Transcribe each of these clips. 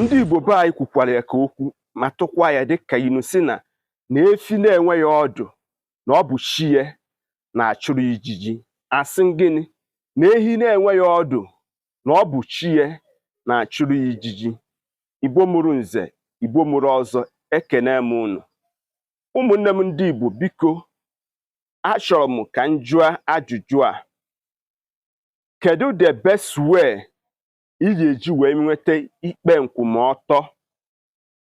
ndị Igbo be anyị kwukwara ya ka okwu ma tụkwa ya dịka inu sị na na efi na-enweghị ọdụ na ọ bụ chi ya na-achụrụ ijiji asị gịnị na ehi na-enweghị ọdụ na ọ bụ chi ya na-achụrụ ijiji igbo mụrụ nze igbo mụrụ ọzọ ekene m unu ụmụnne m ndị igbo biko achọrọ m ka m jụọ ajụjụ a kedu the best way ị ga-eji wee nweta ikpe nkwụmọtọ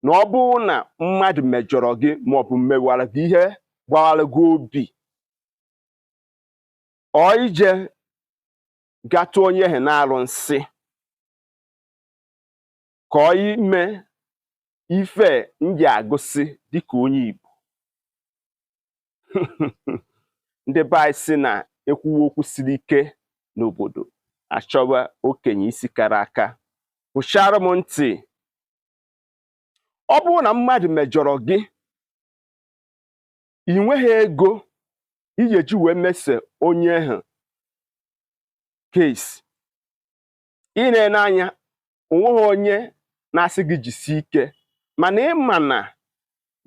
na ọ bụrụ na mmadụ mejọrọ gị maọbụ mewara gị ihe gbawara gị obi ọ ije gatụ onye ahụ n'arụsị ka ọ ime ife ndị agụsị dịka onye Igbo ndị be anyị sị na ekwuwa okwu siri ike n'obodo achọwa okenye isi kara aka hụchara m ntị ọ bụrụ na mmadụ mejọrọ gị ị nweghị ego ị ga-eji wee mese onye ahụ case ị na-ene anya onweghị onye na-asị gị jisie ike mana ịma na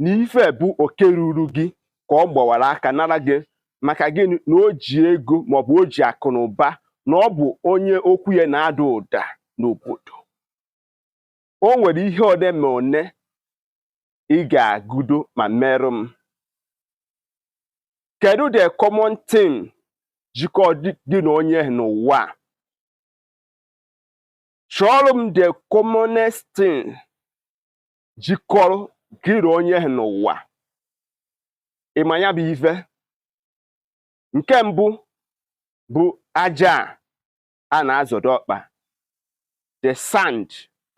na ife bụ oke ruru gị ka ọ gbawara aka nara gị maka gịnị na o ji ego maọbụ o ji akụ na ụba na ọ bụ onye okwu ya na-ada ụda n'obodo o nwere ihe one ma one ị ga-agụdo ma merụ m kedu the common thing jikọ gị na onye n'ụwa chọọrọ m the commonest thing jikọrọ gị na onye n'ụwa ị ma ya bụ ife nke mbụ bụ aja a na-azọdo ọkpa the sand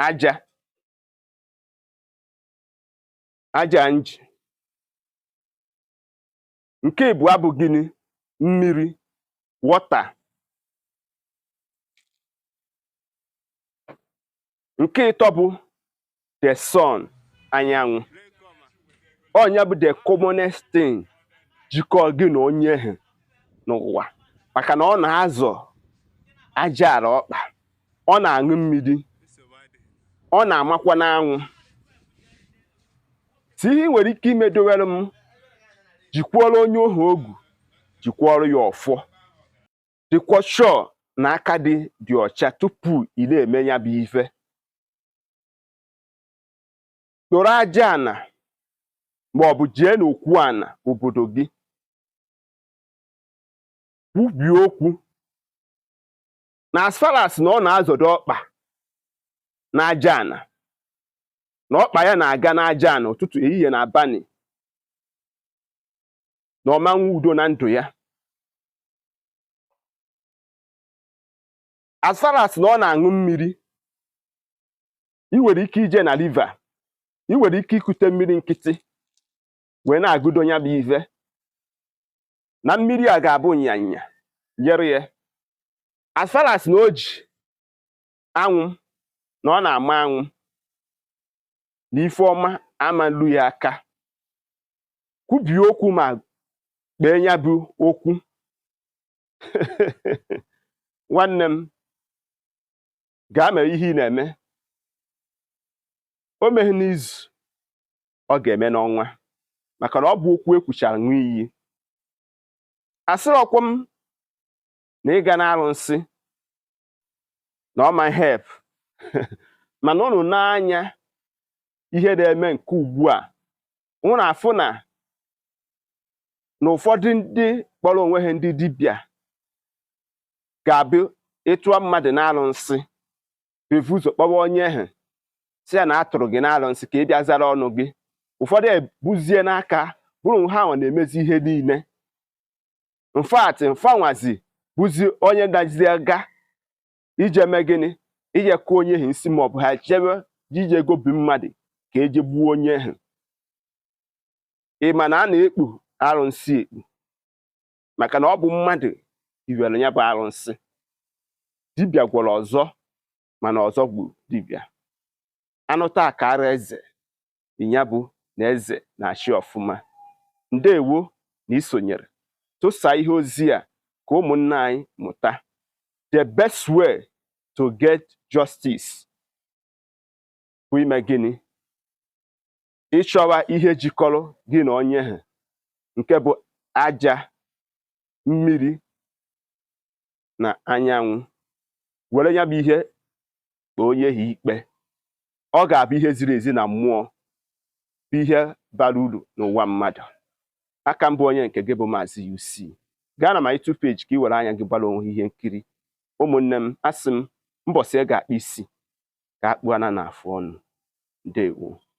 aja aja nji nke ịbụa bụ gịnị mmiri water nke ịtọ bụ the sun anyanwụ ọ ya bụ the commonest thing jikọọ gị na onye ahụ n'ụwa maka na ọ na-azọ aja ala ọkpa ọ na-aṅụ mmiri ọ na-amakwa n'anwụ so ihe ị nwere ike imedowere m jikwuoro onye ahụ ogu jikwuoro ya ọfọ dịkwa sure na aka gị dị ọcha tupu ị na-eme ya bụ ife kporo aja ana ma ọ bụ jee n'okwu ana obodo gị kwubie okwu na as far as na ọ na-azọdo ọkpa n'aja ana na ọkpa ya na-aga n'aja ana ụtụtụ ehihie na abalị na ọ ma enwe udo na ndụ ya as far as na ọ na-aṅụ mmiri ị nwere ike ije na river ị nwere ike ikute mmiri nkịtị wee na-agụdo ya bụ ive na mmiri a ga-abụ nyanya jere ya as far as na o ji anwụ na ọ na-ama anwụ na ife ọma ama elu ya aka kwubie okwu ma kpee ya bụ okwu nwanne m gaa mee ihe ị na-eme o meghị n'izu ọ ga-eme n'ọnwa maka na ọ bụ okwu ekwuchara ṅụọ iyi asịrọkwa m na ịga n'arụnsị na ọ ma help mana ụnụ nee anya ihe na-eme nke ugbu a ụnụ afụ na na ụfọdụ ndị kpọrọ onwe ha ndị dibịa ga-abụ ị tụọ mmadụ n'arụnsị evu ụzọ kpọwa onye ahụ si ya na a tụrụ gị n'arụnsị ka ị bịa zara ọnụ gị ụfọdụ ebuzie n'aka bụrụ ha nwa na-emezi ihe niile in fact fa nwazi bụzi onye nazị aga ije mee gịnị ije kụọ onye ahụ nsị maọbụ ha ejebe ije gobi mmadụ ka eje gbuo onye ahụ ị ma na a na-ekpu arụnsị ekpu maka na ọ bụ mmadụ hiwere ya bụ arụnsị dibịa gwọrọ ọzọ mana ọzọ gburu dibịa anụ taa ka ara eze ya bụ na eze na-achị ọfụma ndewo na isonyere tụsa ihe ozi a ka ụmụnna anyị mụta the best way to get justice bụ ime gịnị ịchọwa ihe jikọrọ gị na onye ha nke bụ aja mmiri na anyanwụ were ya bụ ihe kpee onye ha ikpe ọ ga-abụ ihe ziri ezi na mmụọ bụ ihe bara uru n'ụwa mmadụ a ka m bụ onye nke gị bụ maazị UC gaa na my YouTube page ka ị were anya gị gbara onwe ihe nkiri ụmụnne m asị m mbọsị ị ga-akpụ isi ka akpụ ana n'afụ ọnụ ndewo